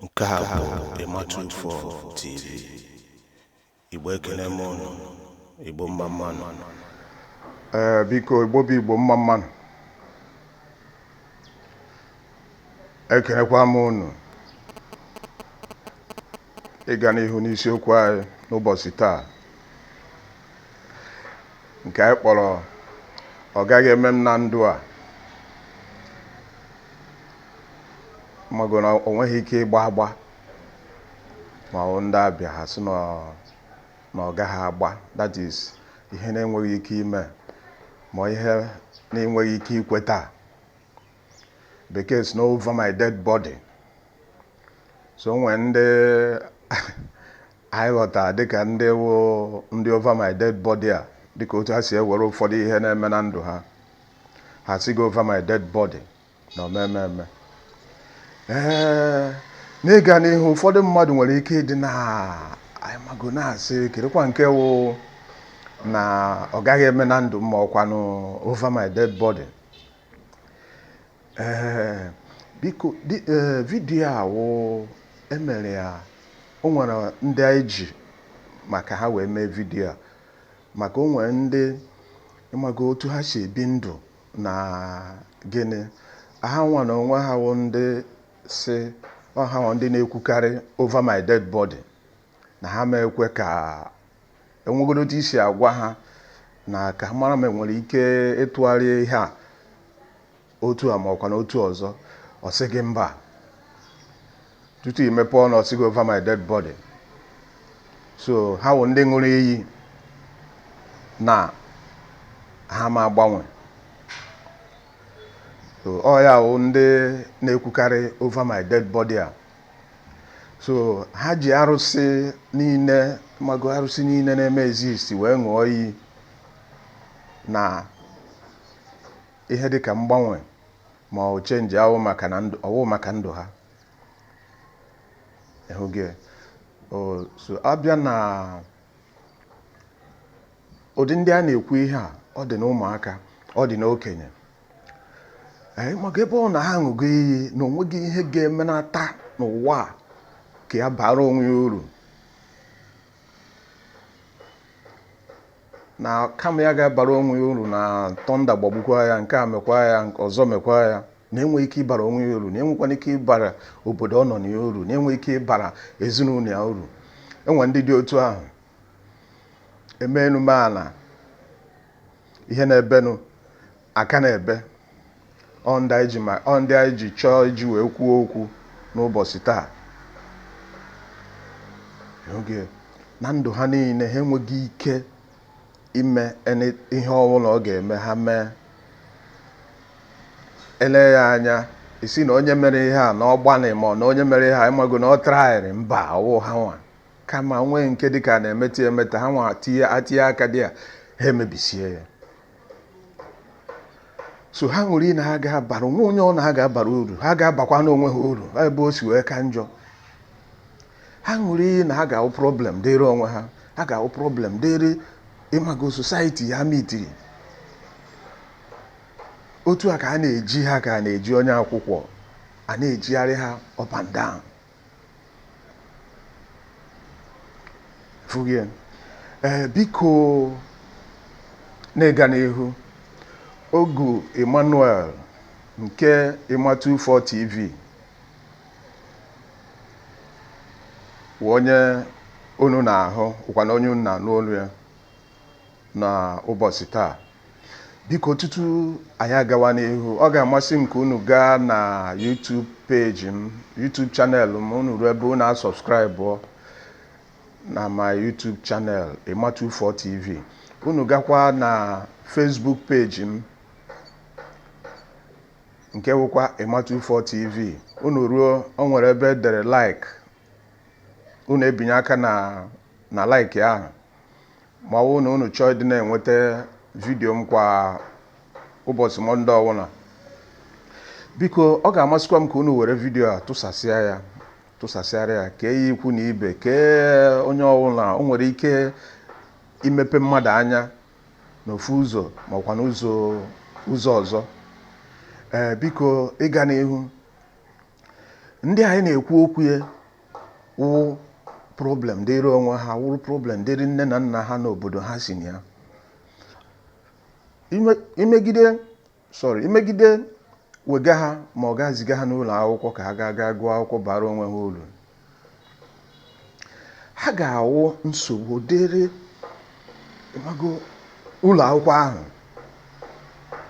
nke a bụ ịmatụ ufo tv igbo ekele m ụnụ igbo mma mma nụ ee biko igbo bụ igbo mma mma nụ ekelekwa m ụnụ ịga n'ihu n'isiokwu anyị n'ụbọchị taa nke anyị kpọrọ ọ gaghị eme m na ndụ a mago na o nweghị ike ịgba agba ma ọ wụ ndị abịa ha sị na ọ- na ọ gaghị agba that is ihe na-enweghị ike ime ma ihe na-enweghị ike ikweta bekee sị na over my dead body so o nwere ndị anyị ghọtara dịka ndị wụ ndị over my dead body a dịka otu ha si ewere ụfọdụ ihe na-eme na ndụ ha ha sị gị over my dead body na ọ ma eme eme ee n'ịga n'ihu ụfọdụ mmadụ nwere ike ịdị na ịmago na-asị kedụkwa nke wụ na ọ gaghị eme na ndụ ma ọkwanụ over my dead body ee biko di ee vidiyo a wụ emere ya o nwere ndị anyị ji maka ha wee mee vidiyo a maka o nwere ndị ịmago otu ha si ebi ndụ na gịnị ha nwa na onwe ha wụ ndị si ọ ha wụ ndị na-ekwukarị over my dead body na ha ma ekwe ka o nwegodo otu i si agwa ha na ka ha mara ma enwere ike ịtụgharị ihe a otu a ma ọkwanụ otu ọzọ ọ sị gị mba tutu i mepe ọnụ ọ sị gị over my dead body so ha wụ ndị ṅụrụ iyi na ha ma agbanwe so ọ ya wụ ndị na-ekwukarị over my dead body a so ha ji arụsị niile mago arụsị niile na-eme exist wee ṅụọ iyi na ihe dịka mgbanwe ma ọ change awụ maka na ndụ ọ wụ maka ndụ ha ehuge so a bịa na ụdị ndị a na-ekwu ihe a ọ dị n'ụmụaka ọ dị n'okenye ee maka ebe ọ na ha aṅụgo iyi na onweghị ihe ga-emenata n'ụwa a ka ya bara onwe ya uru na kama ya ga-abara onwe ya uru na thunder gbagbukwa ya nke a mekwa ya nke ọzọ mekwa ya na enweghị ike ịbara onwe ya uru na enwekwana ike ịbara obodo ọ nọ na ya uru na enweghị ike ịbara ezinụlọ ya uru e nwee ndị dị otu ahụ eme enume ala ihe na-ebenụ aka na-ebe ọ ndị anyị ji ma ọ ndị anyị ji chọọ iji wee kwuo okwu n'ụbọchị taa oge na ndụ ha niile ha enweghị ike ime ihe ọbụla ọ ga-eme ha mee eleghị anya ị sị na onye mere ihe a na ọ gbalị ma ọ na onye mere ihe a ịmago na ọ tryrị mba ọ wụ ha nwa kama nwee nke dịka a na-emeta emeta ha nwa etinye aka dị ya ha emebisie ya so ha nwere ị na-aga abara onwe onye ọ na-aga abara uru ha ga-abakwanụ onwe ha uru ebe o si wee ka njọ ha nwere ị na ha ga-awụ problem dịrị onwe ha ha ga-awụ problem dịrị ịmago society ha mitiri otu a ka a na-eji ha ka a na-eji onye akwụkwọ a na-ejigharị ha up and down fụghị ya ee biko n'ịga n'ihu Ogu Emmanuel nke Emma 24 TV wụ onye unu na-ahụ wụkwanụ onye unu na-anụ olu ya na ụbọchị taa biko tutu anyị agawa n'ihu ọ ga-amasị m ka unu gaa na YouTube page m YouTube channel m unu ruo ebe unu asubscribe na my YouTube channel Emma 24 TV unu gakwa na Facebook page m nke wụkwa Emma 24 TV unu ruo o nwere ebe e dere like unu ebinye aka na na like ahụ ma ọ bụrụ na unu chọọ ịdị na-enweta video m kwa ụbọchị Monday ọbụla biko ọ ga-amasịkwa m ka unu were video a tụsasịa ya tụsasịara ya kee ya ikwu na ibe kee onye ọbụla o nwere ike imepe mmadụ anya n'ofu ụzọ makwa n'ụzọ ọzọ ee biko ịga n'ihu ndị anyị na-ekwu okwu ya wụ problem dịrị onwe ha wụrụ problem dịrị nne na nna ha na obodo ha si na ya Ime- imegide sorry imegide wega ha ma ọ ga ziga ha n'ụlọ akwụkwọ ka ha gaa gaa gụọ akwụkwọ bara onwe ha uru ha ga-awụ nsogbu dịrị ịmago ụlọ akwụkwọ ahụ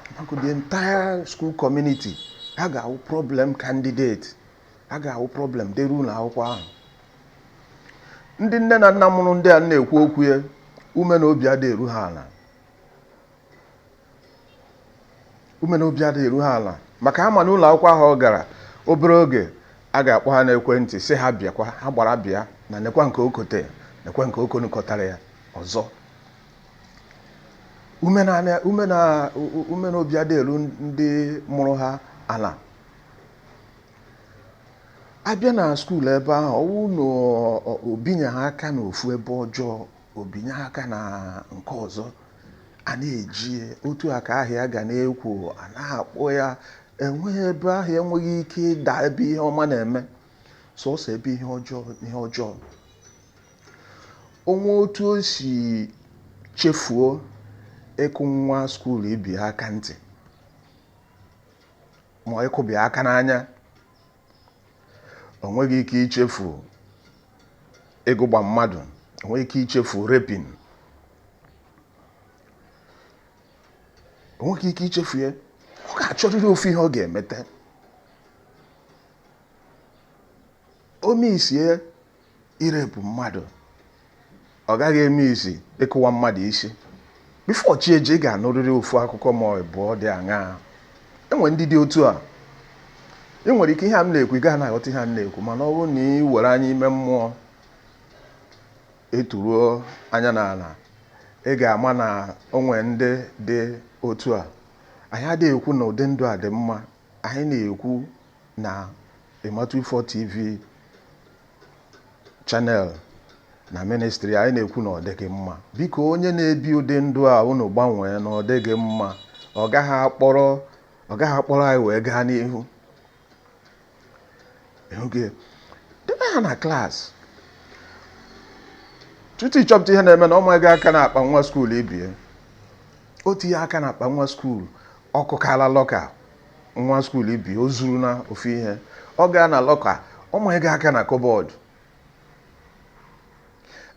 ịmago the entire school community ha ga-awụ problem candidate ha ga-awụ problem dịrị ụlọ akwụkwọ ahụ ndị nne na nna mụrụ ndị a na-ekwu okwu ya ume na obi adịghị eru ha ala ume na obi adịghị eru ha ala maka ha ma na ụlọ akwụkwọ ahụ ọ gara obere oge a ga-akpọ ha n'ekwentị sị ha bịakwa ha gbara bịa na nekwa nke o kote nekwa nke o konukọtara ya ọzọ ume na obi adịghị eru ndị mụrụ ha ala a bịa na skuul ebe ahụ ọ wụ na o binyeghị aka n'ofu ebe ọjọọ o binye aka na nke ọzọ a na-eji otu a ka aha ya ga na-ekwo a na-akpọ ya enweghị ebe aha ya enweghị ike ịda ebe ihe ọma na-eme sọsọ ebe ihe ọjọọ ihe ọjọọ o nwee otu o si chefuo ịkụ nwa skuul ibe ya aka ntị ma ịkụbi aka n'anya o nweghị ike ichefu ịgụgba mmadụ o nweghị ike ichefu raping o nweghị ike ichefu ya ọ ga-achọrịrị ofu ihe ọ ga-emete o misie irepụ mmadụ ọ gaghị emisi ịkụwa mmadụ isi before chi eji ị ga-anụrịrị ofu akụkọ ma ọ bụ ọ dị aṅaa e nwere ndị dị otu a i nwere ike ihe a m na-ekwu ị gaghị na-aghọta ihe a m na-ekwu mana ọ bụrụ na i were anya ime mmụọ eturuo anya n'ala ị ga-ama na o nwe ndị dị otu a anyị adịghị ekwu na ụdị ndụ a dị mma Anyị na-ekwu na Ịmatụifọ TV channel na ministri anyị na-ekwu na ọ dịghị mma biko onye na-ebi ụdị ndụ a unu gbanwee na ọ dịghị mma ọ gaghị akpọrọ ọ gaghị akpọrọ anyị wee gaa n'ihu oge debe ha na klaasị tutu ị chọpụta ihe na-eme na ọ manyego aka n'akpa nwa skuul ibe ya o tinye aka n'akpa nwa skuul ọ kụkala lọka nwa skuul ibe ya o zuru na ofu ihe ọ gaa na lọka ọ manyego aka na kọbọd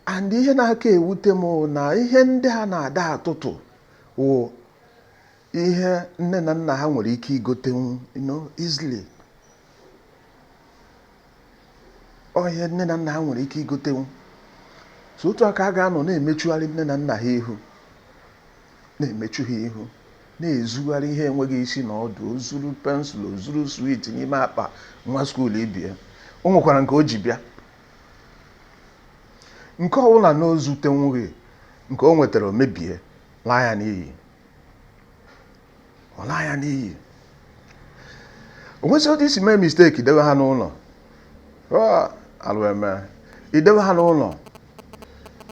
and ihe na-aka ewute m wụ na ihe ndị a na-ada atụtụ wụ ihe nne na nna ha nwere ike igotenwu you know, easily ọ ihe nne na nna ha nwere ike igotenwu so otu a ka a ga-anọ na-emechugharị nne na nna ha ihu na-emechu ha ihu na-ezugharị ihe enweghị isi na ọdụ o zuru pensụl o zuru swit n'ime akpa nwa skuul ibe ya o nwekwara nke o ji bịa nke ọbụla na o zutenwughị nke o nwetara o mebie laa ya n'iyi ọ laa ya n'iyi o nwezie otu i si mee mistake dewe ha n'ụlọ alụ emee idewe ha n'ụlọ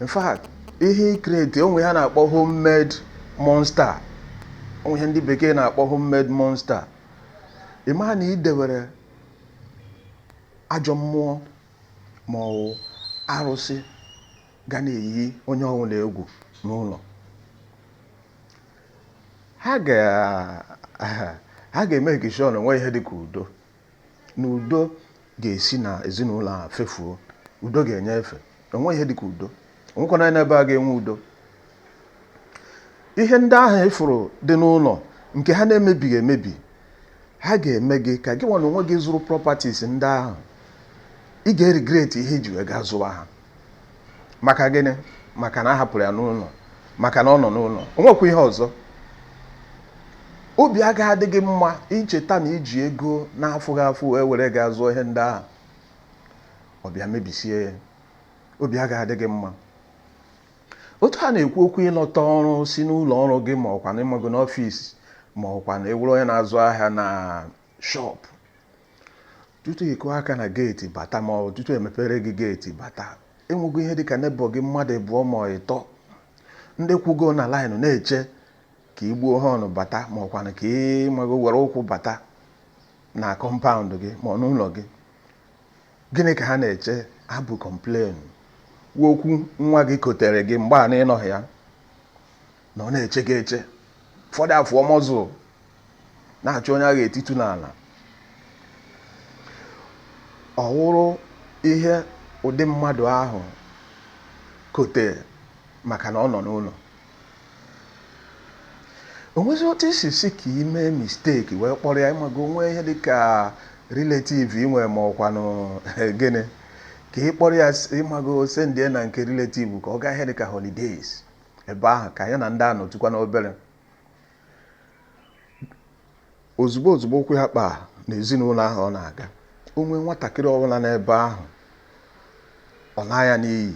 in fact ihe i create o nwe ihe a na-akpọ homemade monster o nwe ihe ndị bekee na-akpọ homemade monster ị maa na i dewere ajọ mmụọ ma ọ bụ arụsị ga na-eyi onye ọbụla egwu n'ụlọ ha ga-emake sure na o nwee ihe dị ka udo na udo ga-esi n'ezinụlọ a fefuo udo ga-enye efe enwe ihe dị ka udo onwekwana n'ebe a ga-enwe udo ihe ndị ahụ ị fụrụ dị n'ụlọ nke ha na-emebiga emebi ha ga-eme gị ka gị nwa n'onwe gị zụrụ properties ndị ahụ ị ga-eregret ihe i ji wee gaa zụwa ha maka gịnị maka na a hapụrụ ya n'ụlọ maka na ọ nọ n'ụlọ o nwekwa ihe ọzọ obi agaghị adị gị mma icheta na i ji ego na-afụ gị ụfụ wee were gaa zụọ ihe ndị ahụ ọ bịa mebisie ya obi agaghị adị gị mma otu a na-ekwu okwu ị lọta ọrụ si n'ụlọ ọrụ gị ma ọkwanụ ị mago n'office ma ọkwanụ ị wụrụ onye na-azụ ahịa na shop tutu ị kụọ aka na gate bata ma ọ bụ tutu e mepere gị gate bata e nwego ihe dịka neighbour gị mmadụ abụọ ma ịtọ ndị kwụgo na line na-eche ka ị gbuo horn bata ma ọkwanụ ka ị mago were ụkwụ bata na compound gị ma ọ n'ụlọ gị gịnị ka ha na-eche abụ complain okwu nwa gị kotere gị mgbe a na ị nọghị ya na ọ na-eche gị eche ụfọdụ afụọ muscle na-achọ onye a ga-etitu n'ala ọ wụrụ ihe ụdị mmadụ ahụ kote maka na ọ nọ n'ụlọ o nwezie otu i si sị ka ị mee mistake wee kpọrọ ya ị mago o nwe ihe dị ka relative i nwe ma ọkwanụ gịnị ka ị kpọrọ ya ị mago sendie ya na nke relative ka ọ gaa ihe dị ka holidays ebe ahụ ka ya na ndị a nọtụkwanụ obere ozugbo ozugbo ụkwụ ya kpaa n'ezinụlọ ahụ ọ na-aga o nwee nwatakịrị ọbụla n'ebe ahụ ọ naa ya n'iyi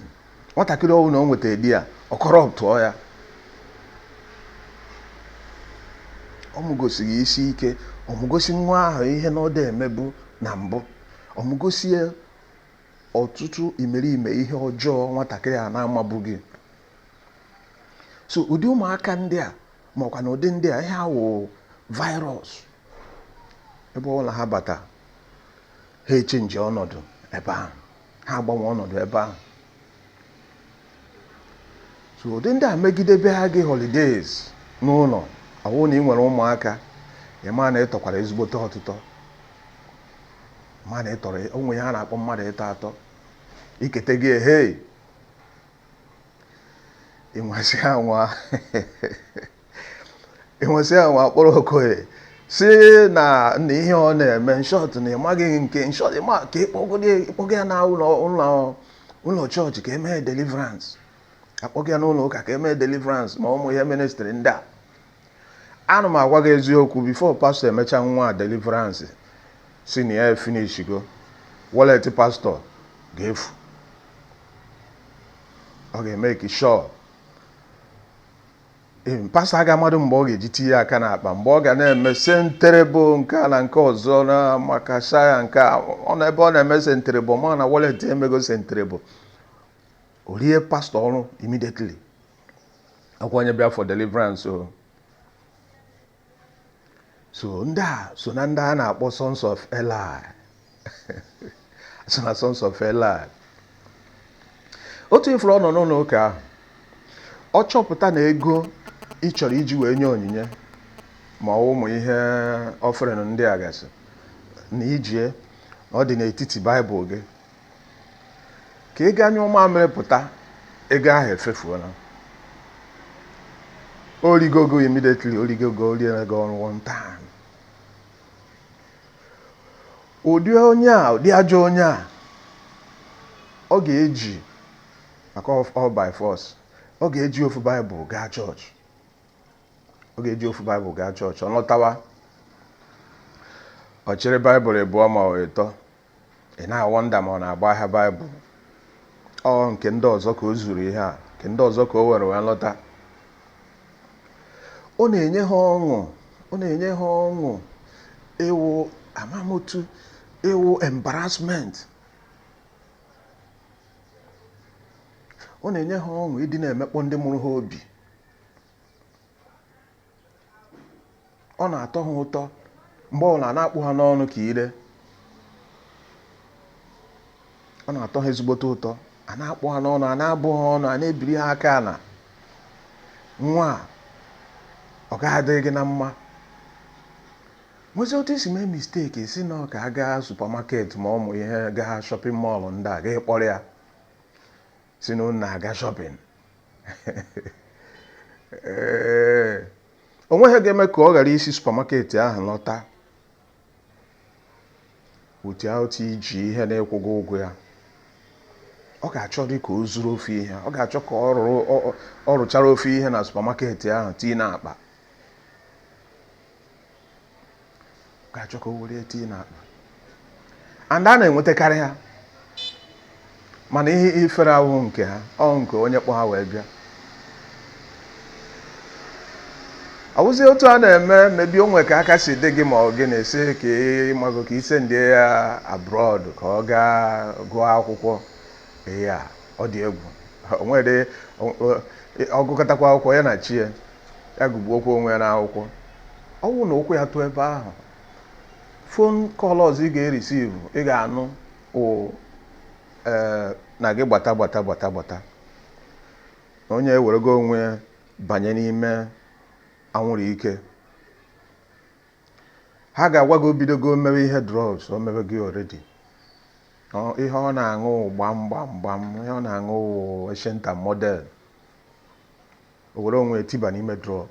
nwatakịrị ọbụla o nweta there ọ corruptụọ ya ọ mụgosi gị isi ike ọ mụgosi nwa ahụ ihe na ọ dị emebu na mbụ ọ mụgosi ya ọtụtụ imerime ihe ọjọọ nwatakịrị a na-amabughị so ụdị ụmụaka ndị a ma ọkwa na ụdị ndị a ihe ha wụ virus ebe ọbụla ha bata ha echenji ọnọdụ ebe ahụ ha agbanwe ọnọdụ ebe ahụ so ụdị ndị a megide bịa gị holidays n'ụlọ ọwụ na ị nwere ụmụaka ị ma na ị tọkwara ezigbote ọtụtọ ma na ị tọrọ o nwe ihe a na-akpọ mmadụ ịtọ atọ ikete gị ehei ịnwasị anwa ịnwasị anwa kpọrọ okoye sị na na ihe ọ na-eme in short na ịmaghị nke in short ị ma ka ị kpọga ya na ụlọ ụlọ ụlọ chọọchị ka e mee deliverance a kpọga ya n'ụlọ ụka ka e mee deliverance ma ụmụ ihe ministrị ndị a a na m agwa gị eziokwu before pastọ emecha nwa a deliverance sị na ya efinishigo wallet pastọ ga-efu ọ ga-emake sure pastọ aga amadị mgbe ọ ga-eji tinye aka n'akpa mgbe ọ ga na-eme senterebo nke a na nke ọzọ na makashaya nke a ọ na ebe ọ na-eme senterebo mana wallet emego senterebo o rie pastọ ọrụ immediately ọkwa onye bịa for deliverance o so ndị a so na ndị a na-akpọ sons of Eli so na sons of Eli otu ị furu ọ nọ n'ụlọ ụka ahụ ọ chọpụta na ego ị chọrọ iji wee nye onyinye ma ọ ụmụ ihe offering ndị a gasị na i ji ya ọ dị n'etiti baịbụl gị ka ị gaa nyụọ mamịrị pụta ego ahụ efefuola o rigo ego immediately o rigo ego o riere gị ọrụ one time ụdị onye a ụdị ajọ onye a ọ ga-eje ụka ọ by force ọ ga-eji ofu baịbụl gaa chọọchị ọ ga-eji ofu baịbụl gaa chọọchị ọ lọtawa ọ chịrị baịbụl ịbụọ ma ọ ịtọ Ị na-awọnda ma ọ na-agba ahịa Baịbụl. Ọ nke ndị ọzọ ka o zuru ihe a, nke ndị ọzọ ka o were wee lọta. Ọ na-enye ha ọṅụ, ọ na-enye ha ọṅụ ịwụ amamotu, ịwụ embarrassment. Ọ na-enye ha ọṅụ ịdị na-emekpọ ndị mụrụ ha obi. ọ na-atọ ha ụtọ mgbe ọbụla a na-akpụ ha n'ọnụ ka ire ọ na-atọ ha ezigbote ụtọ a na-akpụ ha n'ọnụ a na-abụ ha ọnụ a na-ebiri ha aka ala nwa a ọ gaghị adịrị gị na mma nwezi otu i si mee misteki sị na ọ ka a gaa supamaket ma ọ ụmụ ihe gaa shọpịn mọọlụ ndị a gị akpọrọ ya si na unu na-aga shopping ee o nweghị ihe ga-eme ka ọ ghara isi supamaketi ahụ lọta without iji ihe na-akwụghị ụgwọ ya ọ ga-achọdị ka o zuru ofu ihe ọ ga-achọ ka ọ rụrụ- ọ- ọ- ọ rụchara ofu ihe na supamaketi ahụ tii n'akpa ga-achọ ka o were ya tii n'akpa and a na-enwetakarị ha mana ihe ifere awụ nke ha ọ nke onye kpọ ha wee bịa ọ wụzi otu a na-eme maybe o nwee ka aka si dị gị ma ọ gị na-esi ka ịmago ka i sendi ya abroad ka ọ gaa gụọ akwụkwọ ya ọ dị egwu o nwere ọ gụkatakwa akwụkwọ ya na chi ya ya gụgbuokwa onwe ya n'akwụkwọ ọ bụrụ na ụkwụ ya tụọ ebe ahụ fon kọl ọzọ ị ga-erisivu ị ga-anụ wụ ee na gị gbata gbata gbata gbata na onye ewerego onwe ya banye n'ime anwụrụ ike ha ga-agwa gị o bidogo mewe ihe drugs o mewego oredi ihe ọ na-aṅụ gbam gbam gbam ihe ọ na-aṅụ eshenta model o were onwe ya tiba n'ime drọg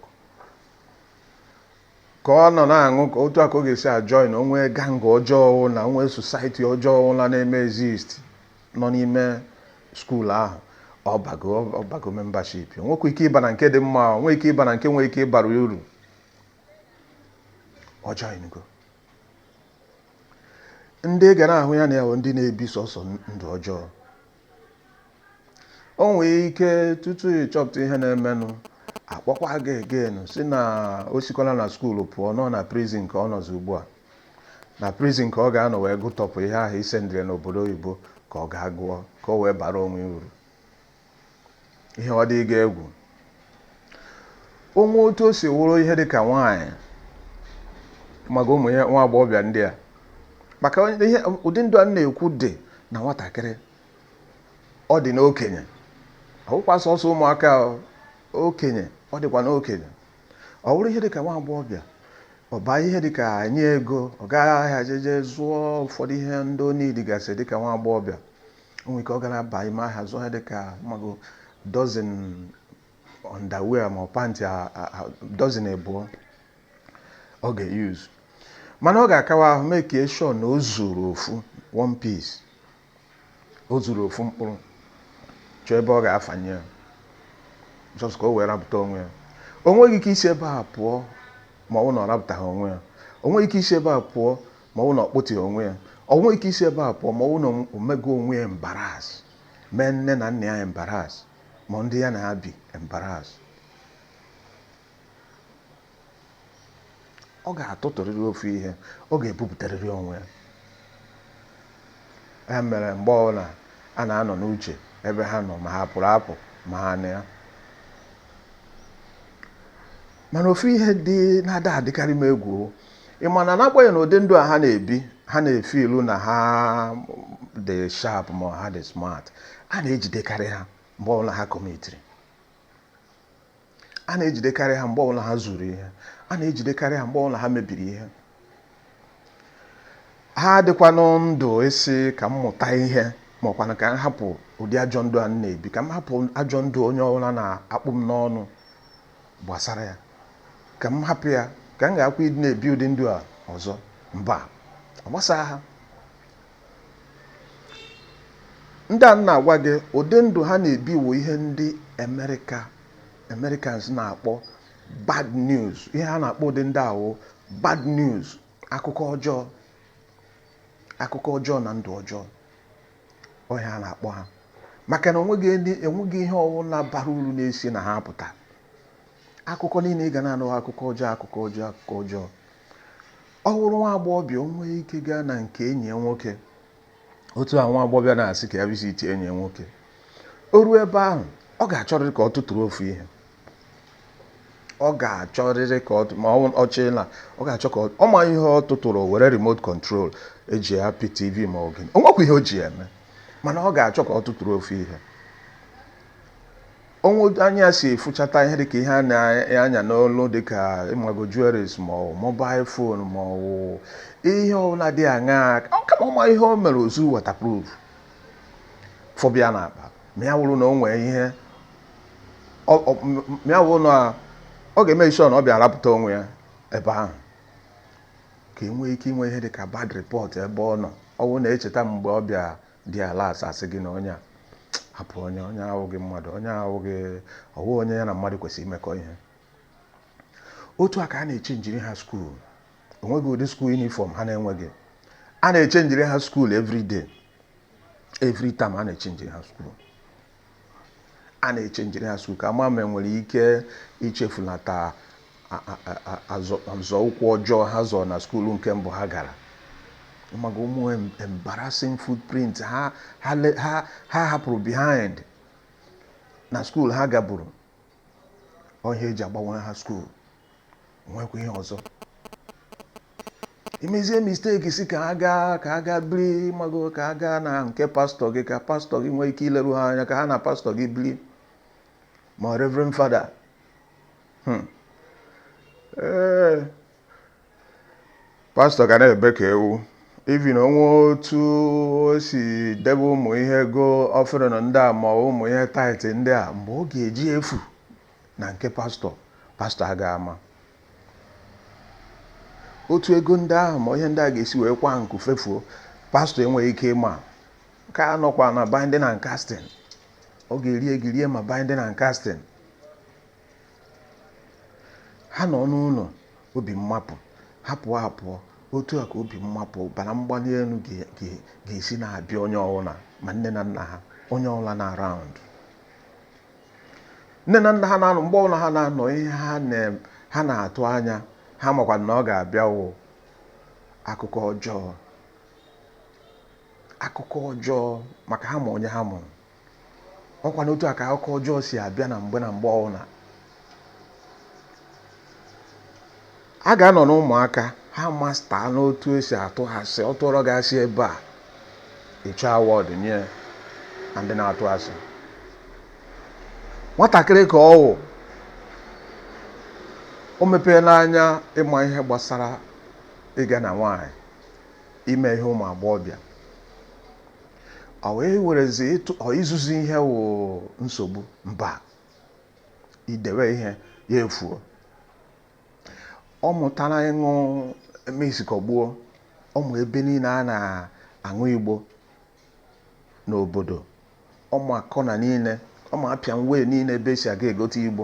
ka ọ nọ na-aṅụ ka otu a ka ọ ga-esi ajọin o nwee gang ọjọọ ọ wụna o nwee sosaiti ọjọọ ọ wụna na-eme exist nọ n'ime skuul ahụ ọ bago ọ bago membership nwekwa ike ịba na nke dị mma nwee ike ịba na nke nwee ike ịbara uru ọ joingo ndị ga na-ahụ ya na ya ndị na-ebi sọsọ ndụ ọjọọ o nwee ike tutu ị chọpụta ihe na-emenụ a kpọkwa gị again si na o sikwala na skuulu pụọ nọ na prizin ka ọ nọzi ugbu a na prizin ka ọ ga-anọ wee gụtọpụ ihe ahụ i sendiri ya n'obodo oyibo ka ọ gaa gụọ ka o wee bara onwe uru ihe ọ dị gị egwu o nwee otu o si wụrụ ihe dị ka nwaanyị maka ụmụ nwa agbọghọbịa ndị a maka ụdị ndụ a na-ekwu dị na nwatakịrị ọ dị n'okenye ọ wụkwa sọsọ ụmụaka okenye ọ dịkwa n'okenye ọ wụrụ ihe dị ka nwa agbọghọbịa ọ baa ihe dị ka e nye ya ego ọ gaa ahịa jeje zụọ ụfọdụ ihe ndị ọ niidigasị dị ka nwa agbọghọbịa o nwere ike ọ ga na-aba ime ahịa zụọ ihe dịka mago dọzin ọndawia ma ọ pantị dọzin abụọ ọ ga-eyuzu mana ọ ga-akawa ahụ make sure na o zuru ofu one piece o zuru ofu mkpụrụ chọọ ebe ọ ga-afanye ya jọs ka o wee rapụta onwe ya o nweghị ike isi ebe a pụọ ma ọ bụ na ọ rapụtaghị onwe ya o nweghị ike isi ebe a pụọ ma ọ bụ na ọ kpụtịghị onwe ya ọ nweghị ike isi ebe a pụọ ma ọ bụ na o mego onwe ya embarrass mee nne na nna ya embarrass ma ndị ya na ha bi embarrass ọ ga-atụtụrịrị ofu ihe ọ ga-ebupụtarịrị onwe ya ya mere mgbe ọbụla a na-anọ n'uche ebe ha nọ ma ha pụrụ apụ ma ha nọ ya mana ofu ihe dị na-ada adịkarị m egwu ị ma na n'agbanyeghị na ụdị ndụ a ha na-ebi ha na-efeel na ha dị sharp ma ha dị smart a na-ejidekarị ha mgbe ọbụla ha kọmitiri a na-ejidekarị ha mgbe ọbụla ha zuru ihe a na-ejidekarị ha mgbe ọbụla ha mebiri ihe ha adịkwanụ ndụ ịsị ka m mụta ihe ma ọ kwanụ ka m hapụ ụdị ajọ ndụ a m na-ebi ka m hapụ ajọ ndụ onye ọbụla na-akpụ m n'ọnụ gbasara ya ka m hapụ ya ka m gharakwa ịdị na-ebi ụdị ndụ a ọzọ mba ọ gbasara ha ndị a m na-agwa gị ụdị ndụ ha na-ebi wụ ihe ndị America Americans na-akpọ bad news ihe ha na-akpọ ụdị ndị ahụ bad news akụkọ ọjọọ akụkọ ọjọọ na ndụ ọjọọ ọ ihe a na-akpọ ha maka na onweghị ndị enweghị ihe ọbụla bara uru na-esi na ha apụta akụkọ niile ị ga na-anụ wụ akụkọ ọjọọ akụkọ ọjọọ akụkọ ọjọọ ọ bụrụ nwa agbọghọbịa o nwee ike gaa na nke enyi ya nwoke otu a nwa agbọghọbịa na-asị ka ya visitie enyi ya nwoke o ruo ebe ahụ ọ ga-achọrịrị ka ọ tụtụrụ ofu ihe ọ ga-achọrịrị ka ma ọ chịla ọ ga-achọ ka ọ ma ihe ọ tụtụrụ were remote control eji apị tv ma ọ gịnị onwekwa ihe o ji eme mana ọ ga-achọ ka ọ tụtụrụ ofu ihe o nwee anya si efụchata ihe dịka ihe a na-anya n'olu dịka ịmago jewelries ma ọ mobile phone ma ọ ihe ọbụla dị aṅaa kama ọ ma ihe o mere o zuo waterproof fọbịa na akpa ma ya wụrụ na o nwee ihe ya wụ na ọ ga-eme isi ọ na ọ bịa arapụta onwe ya ebe ahụ ka e nwee ike inwe ihe dị ka bad report ebe ọ nọ ọ bụrụ na e cheta mgbe ọ bịa dị ala asasị gị na onye a hapụ onye onye a awụghị mmadụ onye a awụghị onye ya na mmadụ kwesịrị imekọ ihe otu a ka a na-echenjiri ha skuul onweghị ụdị skuul yunifọm ha na-enweghị a na-echenjiri ha skuul every day every time a na-echenjiri ha skuul a na-echenjiri ha skuulu ka a ma ma e nwere ike ichefunata nzọụkwụ ọjọọ ha zọọ na skuulu nke mbụ ha gara maka ụmụ embarrassing footprint ha ha hapụrụ behind na skuulu ha gaburu ọ ihe eji agbanwere ha skuul nwekwa ihe ọzọ i mezie misteki sị ka ha gaa ka ha gaa biri ma ọ wụ ka ha gaa na nke pastọ gị ka pastọ gị nwee ike ileru ha anya ka ha na pastọ gị biri ma reverend fada hmm. ee pastọ ga na-ebe ka ewu even o nwee otu o si debe ụmụ ihe ego offering ndị a ma ụmụ ihe tithe ndị a mgbe ọ ga-eji efu na nke pastọ pastọ agaghị ama otu ego ndị ahụ ma ihe ndị a ga-esi nweekwa nku fefuo pastọ enweghị ike ịma nke a nọkwa na binding and casting ọ ga-eri ego rie ma binding and casting Ha nọ n'ụlọ obi mmapụ, ha pụọ apụ, otu a ka obi mmapụ ọbara mgbali elu ga-esi na-abịa onye ọbụla ma nne na nna ha onye ọbụla nọ around nne na nna ha na-anọ mgbe ọbụla ha na-anọ ihe ha na-atụ anya ha makwa na ọ ga-abịa wụ akụkọ ọjọọ akụkọ ọjọọ maka ha ma onye ha mụrụ ọkwa n'otu a ka akụkọ ọjọọ si abịa na mgbe na mgbe ọbụla a ga-anọ n'ụmụaka ha masta n'otu esi atụ asị ọ tụọrọ gị asị ebe a ị chọọ award e nye ndị na-atụ asị nwatakịrị ka ọ wụ o mepeena anya ịma ihe gbasara ịga na nwaanyị ime ihe ụmụ agbọghọbịa Ọ wee werezi ori izuzi ihe wụ nsogbu mba i dewe ihe ya efuo ọ mụtala ịṅụ misikọgbuo ọ ma ebe niile a na-aṅụ igbo n'obodo ọ ma kọna niile ọ ma apịam way niile ebe esi aga egote igbo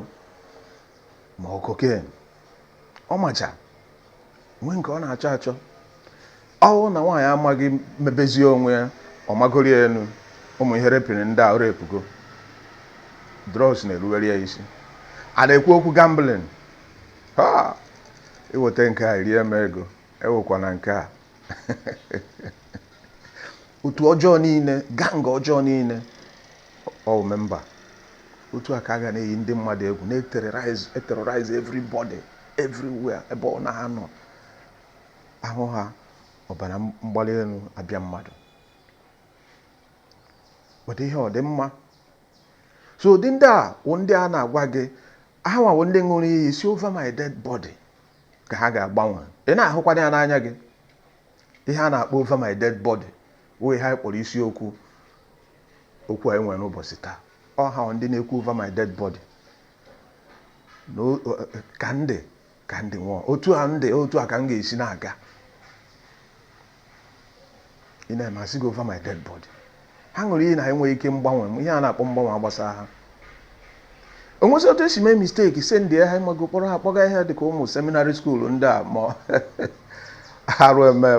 ma cocaine ọ macha o nweghị nke ọ na-achọ achọ ọ wụ na nwaanyị amaghị mebezie onwe ya ọ magoro ya enu ụmụ ihe repịrị ndị a repugo drugs na-eruwere ya isi a na-ekwu okwu gambling ha i weta nke a i rie m ego ewekwana nke a otu ọjọọ niile gang ọjọọ niile ọ member otu a ka ọ ga na-eyi ndị mmadụ egwu na-eterrorize eterrorize everybody everywhere ebe ọ na-anọ ahụ ha ọbara mgbali elu abịa mmadụ kpọta ihe ọ dị mma so ụdị ndị a wụ ndị a na-agwa gị ha nwa wụ ndị ṅụrụ iyi sị over my dead body ka ha ga-agbanwe ị na-ahụkwanụ ya n'anya gị Ihe a na-akpọ Over My Dead Body wụ ihe anyị kpọrọ isiokwu okwu anyị nwere n'ụbọchị taa. Ọ ha ndị na-ekwu Over My Dead Body na o- o- ka m dị ka m dị nwụọ otu a m dị otu a ka m ga-esi na-aga ị na-eme a sị gị Over My Dead Body ha ṅụrụ iyi na ha enweghị ike mgbanwe ihe a na-akpọ mgbanwe agbasa ha o nwezi otu e si mee mistake set ndị ha ịmago kpọrọ ha kpọga ihe dịka ụmụ seminary school ndị a ma arụ eme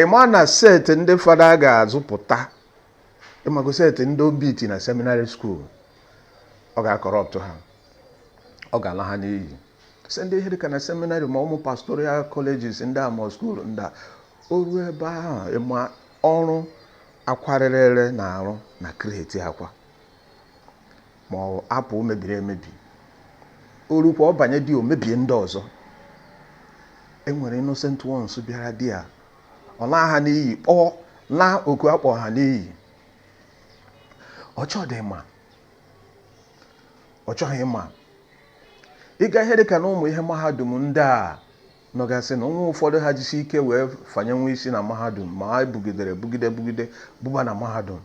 ịma na set ndị fada ga-azụpụta ịmago set ndị obiti na seminary school ọ ga-acorrupt ha ọ ga-ala ha n'iyi set ndị ihe dịka na seminary ma ụmụ pastoral colleges ndị a ma school ndị a o ruo ebe ahụ ịma ọrụ akwa rere ere na-arụ na kreti akwa ma ọ apụ o mebiri emebi o rukwa ọ banye there o mebie ndị ọzọ e nwere innocent ones bịara there ọ laa ha n'iyi kpọọ laa oku akpọ ha n'iyi ọ chọdị ma ọ chọghị ma ị ga ihe dịka na ụmụ ihe mahadum ndị a nọgasị na o nwee ụfọdụ ha jisi ike wee fanyewe isi na mahadum ma ha bugidere bugide bugide bụba na mahadum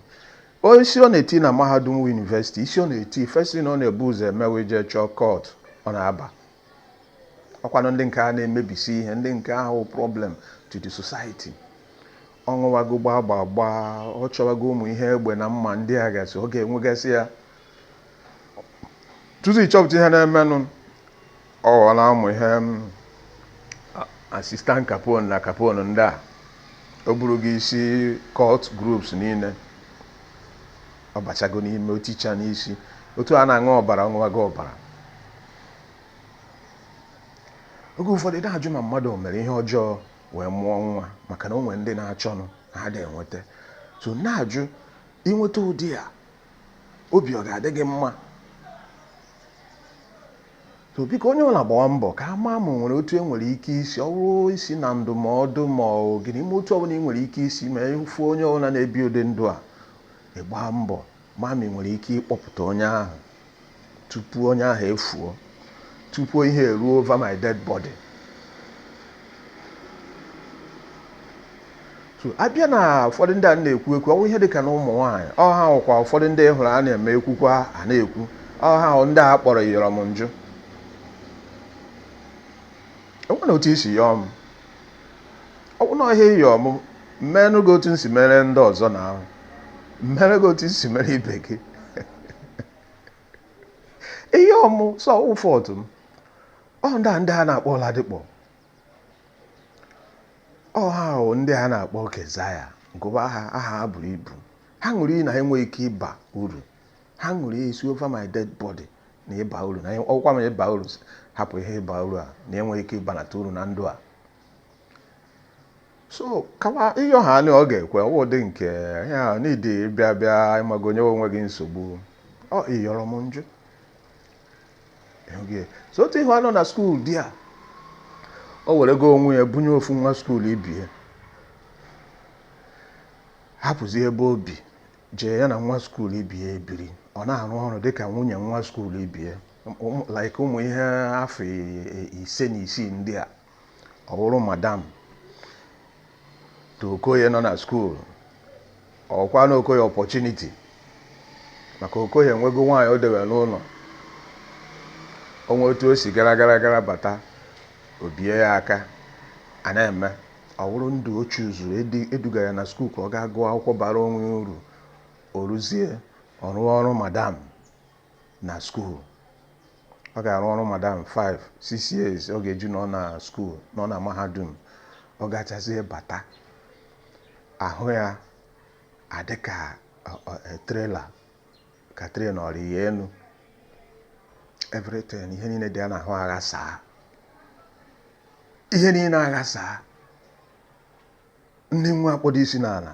isi ọ na-eti na mahadum university isi ọ na-eti first thing ọ na-ebu ụzọ eme wụ jee chọọ cult ọ na-aba ọ kwanụ ndị nke a na-emebisi ihe ndị nke a wụ problem to the society ọ ṅụwago gbaa gbaa gbaa ọ chọwago ụmụ ihe egbe na mma ndị a gasị ọ ga-enwegasị ya tutu ị chọpụta ihe na-emenụ ọ ghọọla ụmụ ihe assistant capon na capon ndị a ọ bụrụgo isi cult groups niile ọ bachago n'ime oticha n'isi otu a na-aṅụ ọbara ọ ṅụwago ọbara oge ụfọdụ na-ajụ ma mmadụ o mere ihe ọjọọ wee mụọ nwa maka na o nwere ndị na-achọnụ ha ada enweta so na-ajụ ị nweta ụdị a obi ọ ga-adị gị mma so biko onye ọbụla gbawa mbọ ka a maa ma o nwere otu e nwere ike isi ọ bụrụ isi na ndụmọdụ ma ọ gịnị ime otu ọbụla ị nwere ike isi ma ị fụ onye ọbụla na-ebi ụdị ndụ a ị gbaa mbọ maa ma ị nwere ike ịkpọpụta onye ahụ tupu onye ahụ efuo tupu ihe eruo over my dead body so a bịa na ụfọdụ ndị a na-ekwu ekwu ọ wụ ihe dịka na ụmụ nwaanyị ọ ha ọ kwa ụfọdụ ndị hụrụ a na-eme ekwukwa a na-ekwu ọ ha wụ ndị a kpọrọ yọrọ m njụ e nwere otu i si yọọ m ọ bụrụ na ihe ị yọ m m mere gị otu m si mere ndị ọzọ na ahụ m mere gị otu m si mere ibe gị ihe ọmụ sọ ụfọdụ m ọ ndị a ndị a na-akpọ Oladipo ọ ha ahụ ndị a na-akpọ kezaya nke bụ aha aha ha buru ibu ha ṅụrụ iyi na ha enweghị ike ịba uru ha ṅụrụ iyi sị over my dead body na ịba uru na ọkwa ma ịba uru hapụ ihe ịba uru a na enweghị ike ịbanata uru na ndụ a so kama ị yọ ha na ọ ga-ekwe ọ wụ dị nke ya n'idi bịa bịa ị mago onye o nweghị nsogbu ọ ị yọrọ m m jụ so otu ihe a nọ na skuul di a o were go onwe ya bunye ofu nwa skuul ibe ya hapụzi ebe o bi jee ya na nwa skuul ibe ya ebiri ọ na-arụ ọrụ dịka nwunye nwa skuul ibe ya ụmụ- like ụmụ ihe afọ i- i- ise na isii ndị a ọ bụrụ madam to okoye nọ na skuul ọkwa na okoye opportunity maka okoye enwego nwaanyị o dewere n'ụlọ o nwe otu o si gara gara gara bata obi ya aka a na-eme Ọ wụrụ ndụ o chuzuru edi- eduga ya na skuul ka ọ gaa gụọ akwụkwọ bara onwe ya uru o rụzie ọ rụọ ọrụ madam na skuul ọ ga-arụ ọrụ madam 5 6 years ọ ga-eji nọ na skuul nọ na mahadum ọ gachazie bata ahụ ya adịka ọ- ọ- e, trailer ka train ọ rị ya enu everything ihe niile dị ya n'ahụ aghasaa ihe niile aghasaa nni nwa akpọdo isi n'ala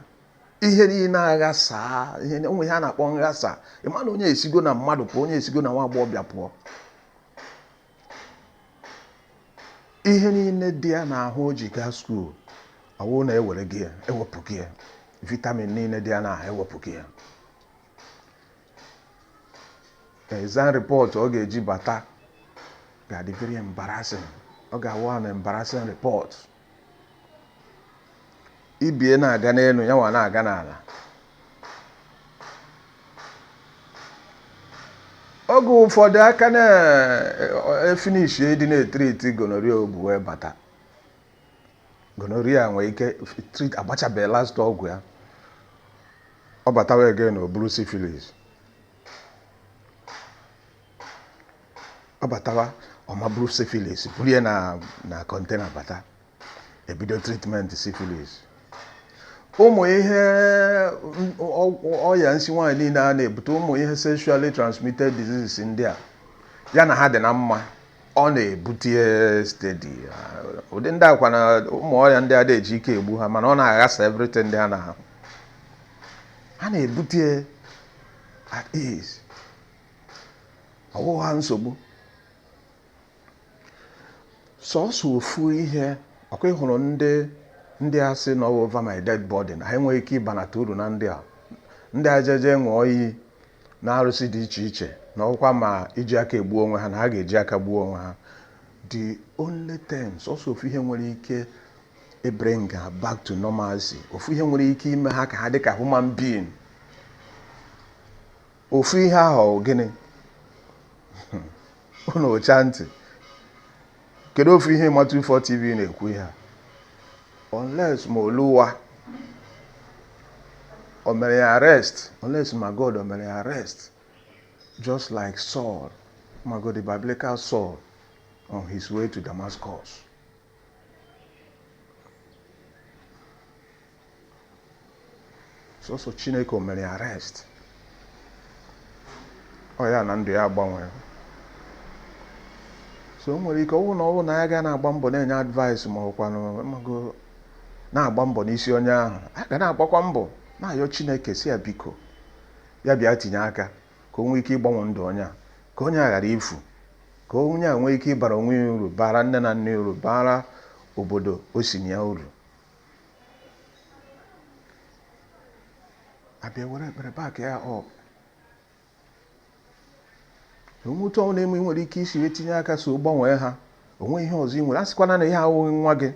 ihe niile aghasaa ihe o nwe ihe a na-akpọ nghasa ị ma na onye esigo na mmadụ pụọ onye esigo na nwa agbọghọbịa pụọ ihe niile dị ya n'ahụ o ji gaa skuul ọ wụ na ewere gị ya ewepụ gị ya vitamin niile dị ya n'ahụ ewepụ gị ya exam report ọ ga-eji bata ga-adị very embarrassing ọ ga-awụ an embarrassing report ibe ya na-aga n'elu ya nwa na-aga n'ala oge ụfọdụ a ka na-efinishi ịdị na-etriti gonorrhea o bu wee bata gonorrhea nwee ike treat agbachabeghị last ọgwụ ya ọ batawa again o buru syphilis ọ batawa ọ ma bụrụ syphilis buru ya na na container bata ebido treatment syphilis ụmụ ihe m- ọ- ọ- ọya nsi nwaanyị niile a na-ebute ụmụ ihe sexually transmitted diseases ndị a ya na ha dị na mma ọ na-ebute steady ụdị ndị akwa na ụmụ ọya ndị a na-eji ike egbu ha mana ọ na-aghasa everything ndị ha na ha ha na-ebute at ease ọ bụghị ha nsogbu sọsọ ofu ihe ọ kwa ị hụrụ ndị ndị a sị na over my dead body na ha enweghị ike ịbanata uru na ndị a ndị a jeje ṅụọ iyi na arụsị dị iche iche na ọ wụkwa ma iji aka egbu onwe ha na ha ga-eji aka gbuo onwe ha the only thing sọsọ ofu ihe nwere ike ịbring ha back to normalcy ofu ihe nwere ike ime ha ka ha dị ka human being ofu ihe ahụ ọ gịnị unu ụcha ntị kedu ofu ihe Imatufo TV na-ekwu ihe a unless ma oluwa o mere ya arrest unless ma god o mere ya arrest just like saul ma god the biblical saul on his way to damascus sọsọ chineke o mere arrest oya na ndụ ya agbanwe so o nwere ike ọ wụ na ọ wụ na a ga na-agba mbọ na-enye advice ma ọ kwanụ ma a ga na-agba mbọ n'isi onye ahụ a ga na-agbakwa mbọ na-ayọ chineke sị ya biko ya bịa tinye aka ka o nwee ike ịgbanwe ndụ onye a ka onye a ghara ifu ka onye a nwee ike ịbara onwe ya uru bara nne na nna ya uru bara obodo o si na ya uru a bịa were ekpere back ya up o nwee otu ọ wụ na e nwere ike isi wee tinye aka so gbanwee ha o nwee ihe ọzọ ị nwere asịkwana na ọ wụghị nwa gị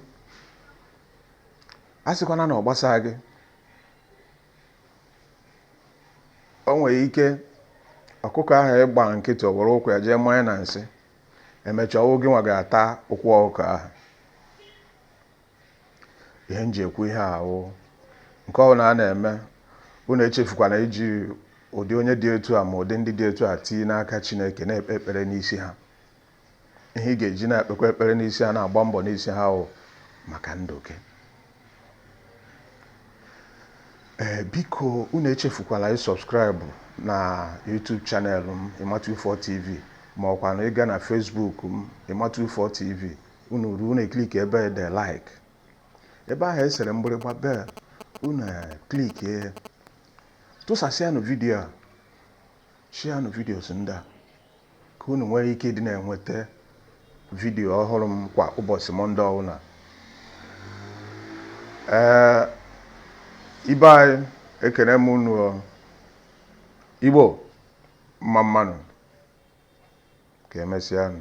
asịkwana na ọ gbasaghị gị o nwere ike ọkụkọ ahụ ị gba nkịtị o were ụkwụ ya jee manye na nsị emechaa ọ wụ gịnwa ga-ata ụkwụ ọkụkọ ahụ ihe m ji ekwu ihe a wụ nke ọ wụna a na-eme unu echefukwana iji ụdị onye dị etu a ma ụdị ndị dị etu a tii n'aka chineke na-ekpe ekpere n'isi ha ihe ị ga-eji na-ekpekwa ekpere n'isi ha na-agba mbọ n'isi ha wụ maka ndụ gị ee eh, biko unu echefukwana ịsubscribe na YouTube channel m Imatufo TV ma ọ kwanụ ịga na Facebook m Imatufo TV unu ruo unu eklik ebe ede like ebe ahụ esere mgbịrịgba bell unu eklik e tụsasịanụ vidiyo a shianụ videos ndị a ka unu nwee ike ịdị na-enweta vidiyo ọhụrụ m kwa ụbọchị mọnde ọbụla ee ibe anyị ekene m unu igbo mma mma nụ ka emesịanụ